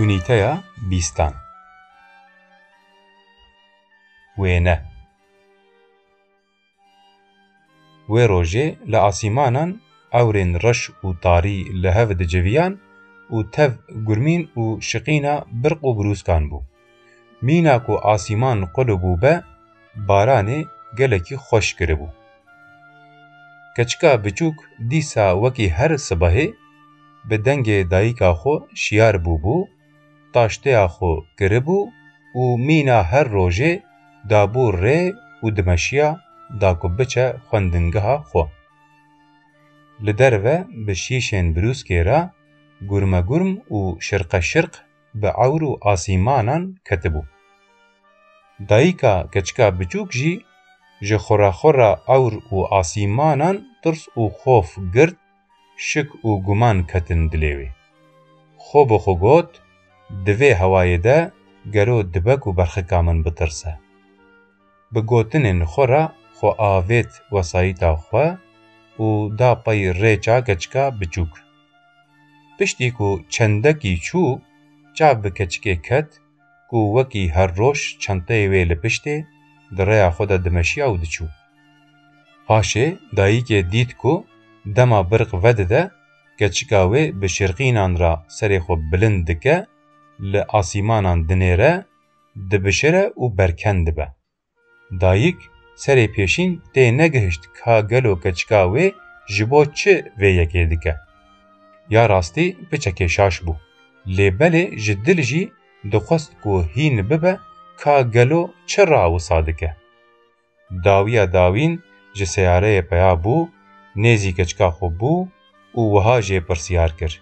Unîteya bîstan Wêne Wê rojê li asîmanan ewrên reş û tarî li hev diciviyan û tev gurmîn û şiqîna birq û birûskan bû. Mîna ku asîman qulu bûbe, baranê gelekî xweş kiribû. Keçika biçûk dîsa wekî her sibehê bi dengê dayîka xwe şiyar bûbû, taşteya xwe kiribû û mîna her rojê dabû rê û dimeşiya da ku biçe xwendingeha xwe. Li derve bi şîşên birûskê re gurmegurm û şirqeşirq bi ewr û asîmanan ketibû. Dayika keçika biçûk jî ji xuraxura ewr û asîmanan tirs û xof girt, şik û guman ketin dilê wê. Xwe bi xwe got, Di vê hewayê de gelo dibe ku berxika min bitirse? Bi gotinên xwe re xwe avêt wesayîta xwe û da pey rêça keçika biçûk. Piştî ku çendekî çû, çav bi keçikê ket ku wekî her roj çenteyê wê li piştê di rêya xwe de dimeşiya û diçû. Paşê dayîkê dît ku dema birq vedide keçika wê bi şirqînan re serê xwe bilind dike, li asîmanan dinêre, dibişire û berkend dibe. Dayik serê pêşîn tê negihişt ka gelo keçika wê ji bo çi vê yekê dike. Ya rastî piçekê şaş bû, lê belê ji dil jî dixwest ku hîn bibe ka gelo çi ra wisa dike. Dawiya dawîn ji seyareyê peya bû, nêzî keçika xwe bû û wiha jê pirsiyar kir,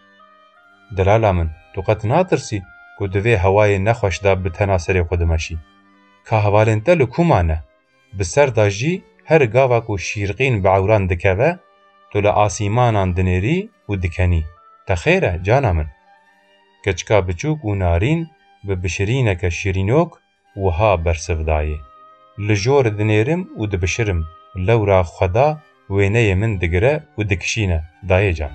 Delala min, tu qet natirsî ku di vê hewayê nexweş de bi tena serê xwe dimeşî? ka hevalên te li ku mane? Bi ser da jî her gava ku şîrqîn bi ewran dikeve, tu li asîmanan dinêrî û dikenî. Te xêr e cana min. Keçika biçûk û narîn bi bişirîneke şirînok wiha bersiv dayê, Li jor dinêrim û dibişirim, lewra xweda wêneyê min digire û dikişîne, dayê can.